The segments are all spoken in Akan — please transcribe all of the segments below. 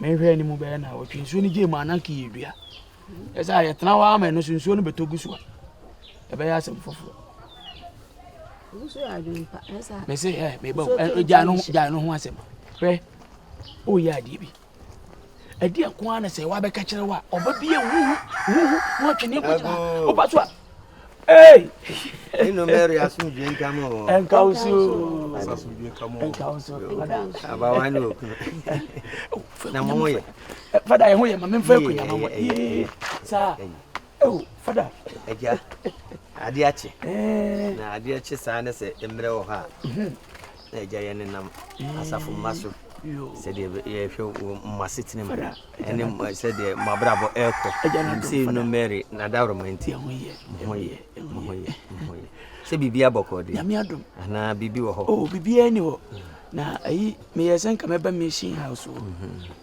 Menhwɛɛ ne mu bɛyɛ naawɔtwe. Nsuo no gyee mu a na nka yɛdua. Ɛ sɛ a yɛtena hɔ ama ɛno so nsuo no bɛtɔ gu so a ɛbɛyɛ asɛm foforɔ. Me se ɛ meba o gya no gya no ho asɛm. Hwɛ o yɛ adeɛ bi. Ɛdeɛ nko ara na sɛ wabɛka kyerɛ wo a ɔbɛbie huhu huhu na ɔtwe ne nkɔgyina. Ɔba so a Hey! Inu Mary asomdwe nka mo. Nka wo so. Asomdwe nka mo. Nka wo so. Abawa ne okunu. Na mo ho yɛ. Fada yɛ ho yɛ ma me mfa akunya ma mo. Saa. Oh, fada. Agya. Ade akye. Na ade akye saa ne sɛ mmerɛ wɔ hɔ a. Na Agya, yɛnenam asafo mma so sɛdeɛ yɛhwɛ wɔ mo asetena mu ɛne mo sɛdeɛ mo abrabɔ ɛrekɔ sɛ no Mary n'adaworoma nti mo ho yɛ mo ho yɛ mo ho yɛ sɛ biribi abɔ kɔɔ deɛ anaa biribi wɔ hɔ oh biribiara ni hɔ na ayi meyɛ sɛ nka mɛba mission house wɔ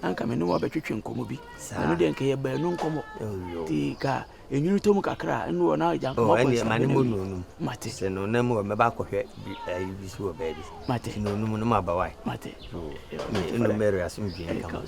na nka me ne wɔbɛtwetwe nkɔmmɔ bi ɛno deɛ nka yɛ baanu nkɔmmɔ nti ka Enwunu tɔ mu kakra a, ɛno wɔ na agya nkɔmɔ kɔ nsa. Ɛne mo nonum. Mate. Sɛ no na mu mɛba akɔhwɛ ayi bi so wɔ baabi. Mate. Sɛ nonum no ma ba wae. Mate. Ɛno mɛrɛ asom dwen kama.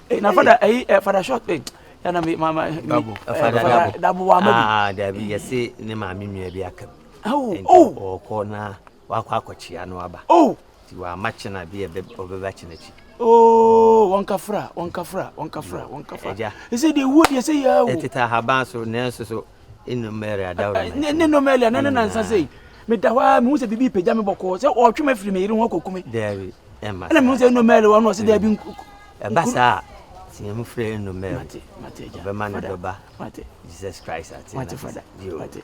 Eh, na fada, ɛyi, eh, fada short, eh, ya na me, ma, ma, dabo, eh, fada dabo, dabo wa ma bi. Ah, dabi, yɛse ne maame nua bi aka bi. Oh, oh. Ɔkɔ na. wakɔ akɔkyea no aba. Oh! Nti wama kyena bi a ɔbɛba kyena akyi. Oh! Wɔnkafra, wɔnkafra, wɔnkafra, mm. wɔnkafra. Agya. Ɛsɛ deɛ wuo deɛ sɛ yɛa wo. Ɛtete ahaban so, nanso so, nnɔmɛre adaworo. Ne nnɔmɛre, ne ne nansa sɛ yi. Meda hɔ a, mehu sɛ biribi pagya me bɔkɔɔ sɛ ɔretwe me afiri me yere ho akɔku me. Daabi, ɛma saa. Ɛna mehu sɛ nnɔmɛre wɔ no ɔsɛ daabi mm. nku. Ɛba saa teɛ mu frɛ nnɔmɛre. Ɔbɛma ne dɔba. Jesus Christ ate. Mate fada. Mate.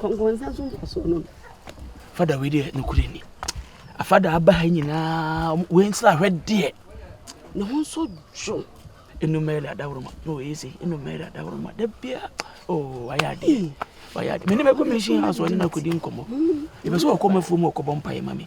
kɔnkɔnsa nso mfasoɔ no fada wei deɛ nokorɛ ni afada aba ha nyinaa wei nsra ahwɛ deɛ ne ho nso dwo enumere adaworoma na ɔyɛ sɛ enumere adaworoma da bia oo oh, wayɛ adeɛ mm. wayɛ adeɛ mene mɛkɔ mɛhyia ha so ɔne no akɔdi nkɔmmɔ ɛbɛ sɛ ɔkɔ mafuo mu ɔkɔbɔ mpaeɛ ma me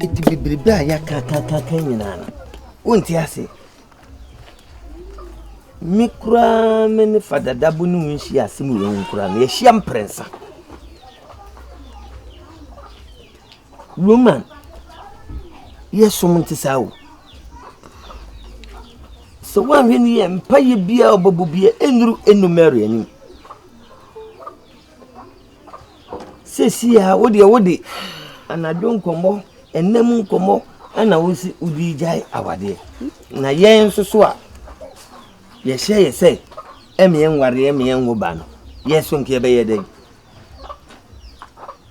Eti bebrebe a yɛakakakaka nyinaa no, wonte ase. Me koraa me ne fadadabo ne wo nhyia asɛm wɔ ho koraa no, yɛahyia mprɛnsa. Roman yɛ som nte saa o. Sɛ woanhwɛ no yie mpaeɛ biara a ɔbɛbɔ bia ɛnnuru ɛnnu Mary anim. Sɛsi a wodeɛ wode anadwo nkɔmmɔ ɛnna mu nkɔmmɔ ɛna wosi wodi gyae awadeɛ na yɛn nso so a yɛhyɛ yɛ sɛ ɛmeɛ nware ɛmeɛ nwo ba no yɛso nkeɛ bɛyɛ dɛn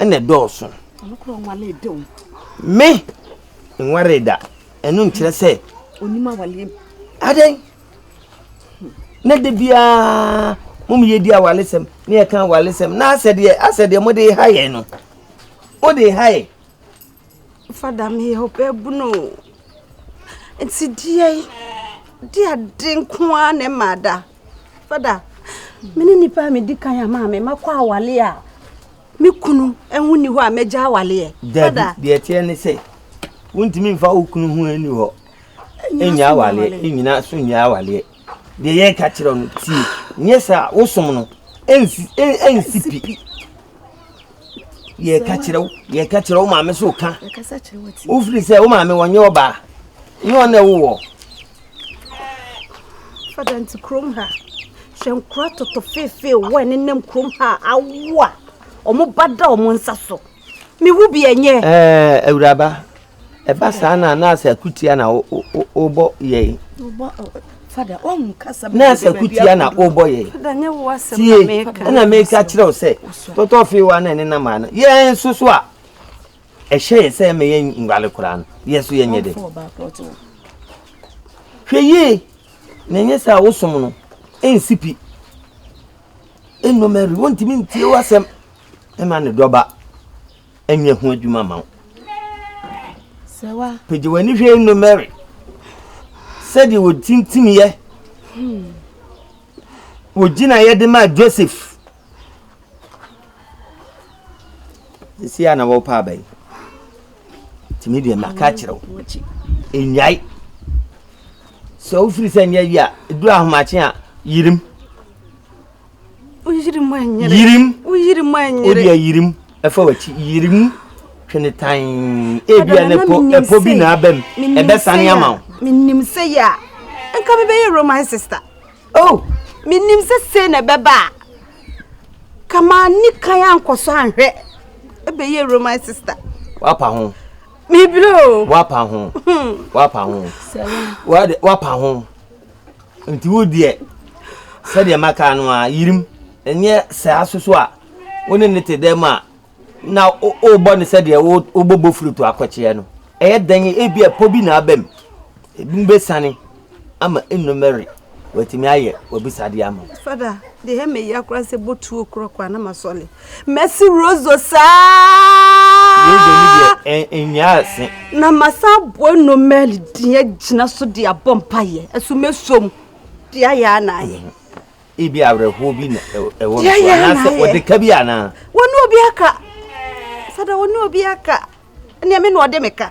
ɛna ɛdɔɔso. Ɔno kura ɔnwale da o. Me nware da ɛno nkyerɛ sɛ. Onim awale mu. Adɛn na de biara mo mu yɛ di awalesɛm ne yɛ ka awalesɛm na asɛ deɛ asɛ deɛ mo de ha yɛ no mo de ha yɛ. Fada mi yɛ ɔbɛ bunu nti deɛ deɛ ade nko ara na ɛma ada. Fada, me ne nipa a medi kan a maa me makɔ awale a me kunu ho ni hɔ a magya awaleɛ. Dabi, deɛ ɛteɛ ne sɛ wontumi mfa wo kunu ho ani hɔ ɛnya awaleɛ ɛnyina so nyɛ awaleɛ deɛ yɛreka kyerɛ no tie nyɛ saa wosom no ɛnsi pi yɛ ka kyerɛ wo yɛ ka kyerɛ wo maame so ka wo firi sɛ wo maame wɔnyɛ ɔbaa ne ɔna ɛwowɔ fada nti kurom ha hwɛ nkora tɔtɔ feefee wɔ ɛne nam kurom ha awo a ɔmo ba da ɔmo nsa so mewu bi ɛnyɛ awuraba Ɛba saa na na asɛ akutia na wobɔ yɛn. Na asɛ akutia na wobɔ yɛn. Tie, ɛna meka kyerɛ wo sɛ, tɔtɔ fee wa na ɛne na maa no. Yɛn nso so a, ɛhyɛ yɛ sɛ ɛmɛ yɛn nwale koraa no, yɛn so yɛnyɛ dɛ. Hwɛ yie, na ɛnyɛ sɛ a wosom no, ɛnsi pi. Ɛnnɔmɛri, wontumi ntie w'asɛm ɛma ne dɔba. ɛnyɛ ho adwuma ma wo pagye w'ani hwɛ nnu mary sɛdeɛ wɔtintimyɛ wɔgyina yɛ de maa joseph ɛsi a na wɔpɛ abɛn tumi deɛ maka kyerɛ wo ɛnyae sɛ wofiri sɛ nyɛ yi a ɛduru ahomakye a yirim Oyirim anyere. Yirim. Oyirim anyere. Obi ayirim. Ɛfɔ w'akyi. Yirim. Twene tan. Ebi a ne po ɛpo bi na abam. Ɛbɛ sani ama wo. Menim sɛ yɛ a. Nka me bɛyɛ Roman sister. Oh. Menim sɛ sei na ɛbɛba a. Kama ni kan ankɔ so anhwɛ. Ɛbɛyɛ Roman sister. Wapa ho. Mebilo. Wapa ho. Hmm. Wapa ho. Wapa ho. Nti wo deɛ, sɛdeɛ maka no ara, yirim, ɛnyɛ saa nso so a wo ne no te dɛm a na wobɔ no sɛdeɛ wobɔ bofurutu akɔkyeɛ no. Ɛyɛ dɛn ebi a pɔ bi na aba mu, ebinom bɛsiane ama nnumere wɔatumi ayɛ w'abisadeɛ ama wo. Fada, deɛ ɛyɛ me ya koraa sɛ botuo korɔ koraa na masɔre Mɛse Rozo saa. Rozo ni deɛ ɛnwia ase. Na masa aboa nomɛl deɛ agyina so de abɔ mpaeɛ ɛso mɛsom deɛ ayɛ a na ayɛ. Ebi awerɛhoɔ bi na ɛwɔ no so anaasɛ wɔde ka bi anaa. Wɔne obi aka. Sada wɔne obi aka. Nea me na ɔde me ka.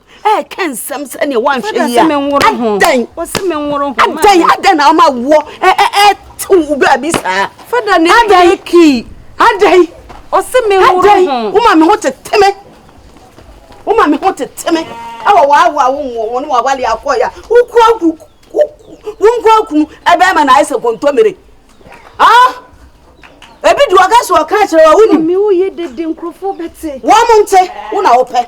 ɛɛka nsɛm sɛdeɛ woanhwɛ yi a adɛn wɔse me nworo ho adɛn adɛn na ama woɔ ɛɛte wo baabi saa fada ne adɛn kii adɛn ɔse me nworo ho woma me ho tete me woma me ho tete me ɛwɔ waawa wo nwɔ wɔne wawale akɔɔyɛ a wokura wonkura kunu ɛbɛɛma na ayɛ sɛ kɔntɔmire ah ebi di ɔka so ɔka kyerɛ wa wonim wɔn nte wo na wopɛ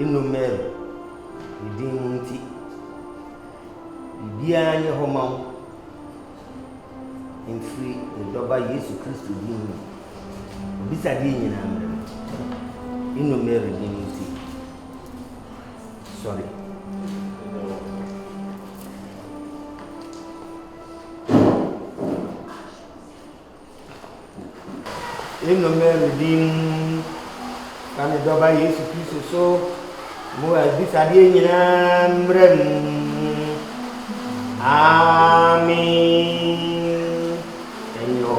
Eno Mary, ne din no nti, biribiara nyɛ hɔ ma wo mfiri ne Dɔba Yesu Kristo din mu. W'abisadeɛ nyinaa mmerɛ no, Eno Mary din no nti. Sɔre. Nnome medin ka ne dɔba Yesu Kristo so mo abisadeɛ nyinaa mmerɛ mu. Amen. Ɛnyɛ hɔ.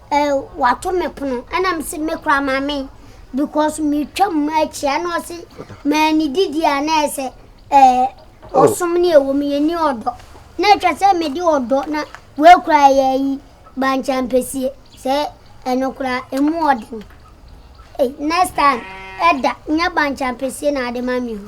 Eh wato me pono ɛna me se me kora maame because me twa mu akyia na ɔse ma ni didi a na ɛsɛ eh oh. ɔsom ne ɛwɔ mu yɛ ni ɔdɔ na ɛtwa sɛ me de ɔdɔ na wɔakura yɛ yi bankyampɛsie sɛ ɛno kora ɛmu ɔden next time ɛda nyɛ bankyampɛsie na ade ma me ho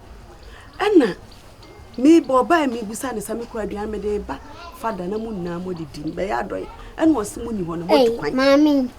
Ɛna meba ɔbaa yi mebisa no sɛ me kura aduane mede ba fa da na mo nyinaa mo de di bɛyɛ adɔe ɛna ɔsi mo ni hɔ no mo tu kwan. Maame.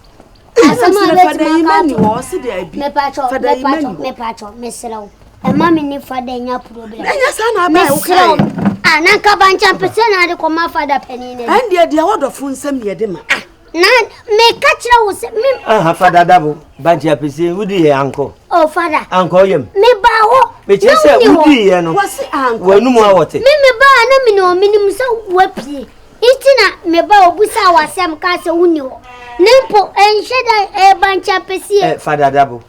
Asɛm a bɛ tuma ka ato hɔ ɔsi de abi. Mepatwɔ mepatwɔ mepatwɔ mesrɛw. Ɛma me ne fada nya problem. Ɛnyɛ saa na abɛn wo kae. Mesrɛw. Ah na nka bankyɛn pese na ade kɔ ma fada panin na. Ɛndeɛ deɛ wɔdɔfo nsɛm yɛ de ma. Ah. Na meka kyerɛ wo sɛ me. Aha fa dada bo bankye apese wodi yɛ ankɔ. Oh fada. Ankɔ yam. Me ba hɔ. Me kyerɛ sɛ wodi yɛ no. Wɔsi ankɔ. Wɔnum awɔte. Me me ba na me na ɔmini mu sɛ wapie. Iti na me ba obu sa wasɛm ka sɛ wonni hɔ. Ne mpo ɛnhyɛ da ɛyɛ bankye apese. Ɛ fa dada bo.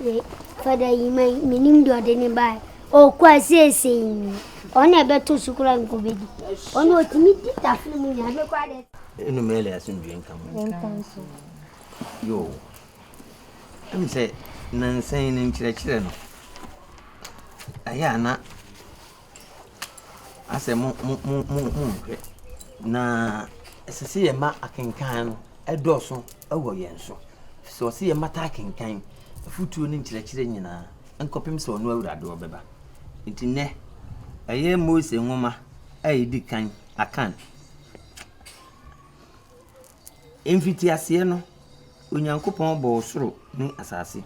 Me fada yi ma menim deɛ ɔde ne bae ɔkɔ a seesei ɔne ɛbɛto so koraa nkɔbɛdi ɔne ɔtumi di tafere mu nyinaa mekɔ adɛ ɛnumere le asomdwe nka mu yo ɛm sɛ nansan no nkyerɛkyerɛ no ayɛ ana asɛ mo mo mo mo monhwɛ na ɛsɛ sɛ yɛma akenkan no ɛdɔɔso wɔ yɛn so sɛ ɔsɛ yɛma taa kenkan afutuo ne nkyerɛkyerɛ nyinaa nkɔpem sɛ ɔno awurade ɔbɛba nti nɛ ɛyɛ mose nwoma a ɛdi kan akan mfitiaseɛ no onyankopɔn bɔɔ soro ne asase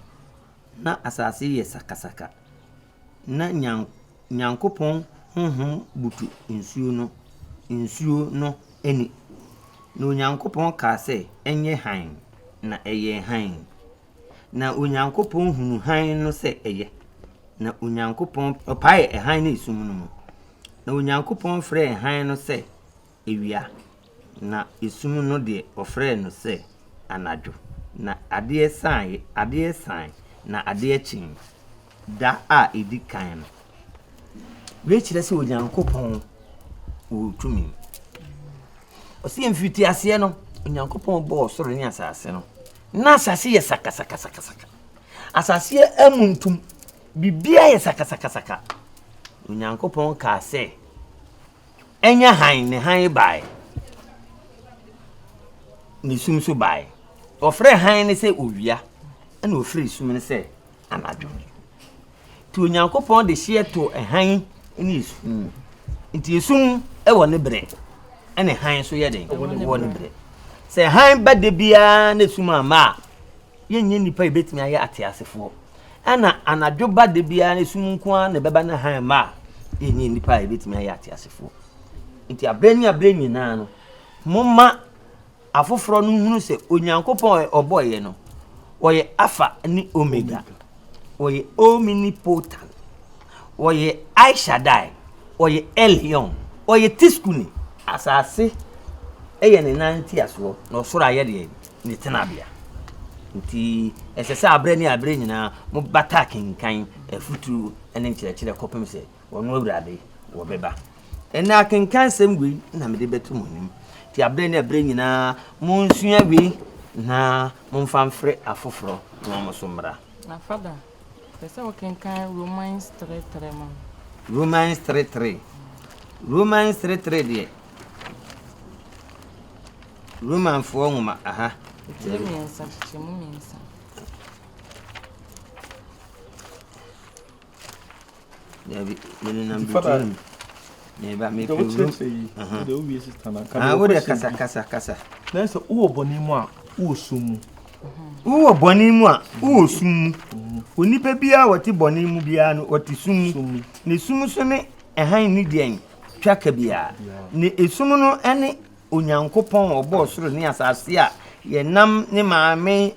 na asase yɛ sakasaka na Nyan Nyankopɔn honhom butu nsuo no, nsuo no ani. Na Onyankopɔn kaa sɛ, Ɛnyɛ hann, na ɛyɛɛ hann. Na Onyankopɔn hunuu hann no sɛ ɛyɛ, na Onyankopɔn ɔpaee hann no esum no mu. Na Onyankopɔn frɛɛ hann no sɛ, awia, na esum no deɛ, wɔfrɛɛ no sɛ anadwo. Na adeɛ saeɛ, adeɛ saeɛ, na adeɛ kyeeɛ, da a ɛdi kan no. Wei kyerɛ sɛ Onyankopɔn wɔ tumi. Ɔsɛ mfitiaseɛ no, Onyankopɔn bɔɔ soro ne asase no. Na asase yɛ sakasakasakasaka. Asaseɛ amu ntom. Biribiara yɛ sakasakasaka. Onyankopɔn kaa sɛ, Ɛnyɛ hann, ne hann bae, ne sum nso bae. Wɔfrɛɛ hann no sɛ owia, ɛna wɔfrɛɛ sum no sɛ anadwo. Nti Onyankopɔn de hyeɛ too hann ne esum mu. Nti esum wɔ ne berɛ, ɛna hann nso yɛ den, wɔ ne berɛ. Sɛ hann ba da biara na esum amma a, Yɛnyɛ nnipa a yebetumi ayɛ ateasefoɔ. Ɛna anadwo ba da biara no sum nko ara na ɛbɛba na hann mma a, yɛnyɛ nnipa a yebetumi ayɛ ateasefoɔ. Nti abere ne abere nyinaa no, momma afoforɔ no nhunu sɛ Onyankopɔn a ɔbɔeɛ no, ɔyɛ Alpha ne Omega, ɔyɛ Omnipotent, ɔyɛ El Shaddai, ɔyɛ Elyon, ɔyɛ Tsidkuni. Asase yɛ ne nan ntiasoɔ, na ɔsoro ayɛ deɛn? ne tenabea. Enti, ɛsɛ sɛ aberɛ ne aberɛ nyinaa mobata akenkan afuturo ne nkyerɛkyerɛ kɔpem sɛ ɔno Awurade wɔbɛba. Ɛnnɛ akenkansɛm wei na mede bɛto mo anim. Enti aberɛ ne aberɛ nyinaa monsua wei na momfa mfrɛ afoforɔ na wɔn nso mmra. Na fada, pɛ sɛ wokenkan Romans 3:3 ma me. Romans 3:3 Romans 3:3 deɛ Romanfoɔ nwoma aha. Kyekyere mmiɛnsa, kyekyere mu mmiɛnsa. Dabi, menenam Nti fada- Beijing. Meba, Deɛ mepɛ wurom. wokyerɛkyerɛ yi Aha. deɛ wowie sista no anka Ah, deɛ wode wopɛ kasa, sɛ- kasa, kasa. na sɛ wowɔ bɔne mu a wowɔ sum mu Wowɔ bɔne mu a, wowɔ sum mu. Onipa biara a ɔte bɔne mu biara no, ɔte sum mu. sum mu Ne sum so ne ɛhan ne deɛn? Twaka biara. Ne esum no ne Onyankopɔn a ɔbɔɔ soro ne asase a yɛnam ne maame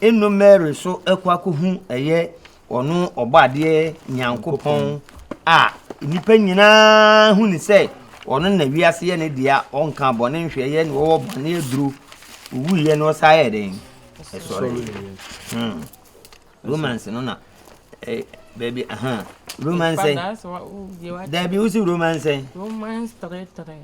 eno Mary so kɔ akɔhu ɛyɛ ɔno ɔbɔadeɛ Nyankopɔn a nnipa nyinaa hu ne sɛ ɔno na wiase yɛ ne dea ɔnka bɔne nhwɛeɛ na ɔwɔ bɔne aduro owuiɛ na ɔsa yɛ den ɛsɔre hmm. romance no na eh, baabi aha romance daabi wosi romance romance three three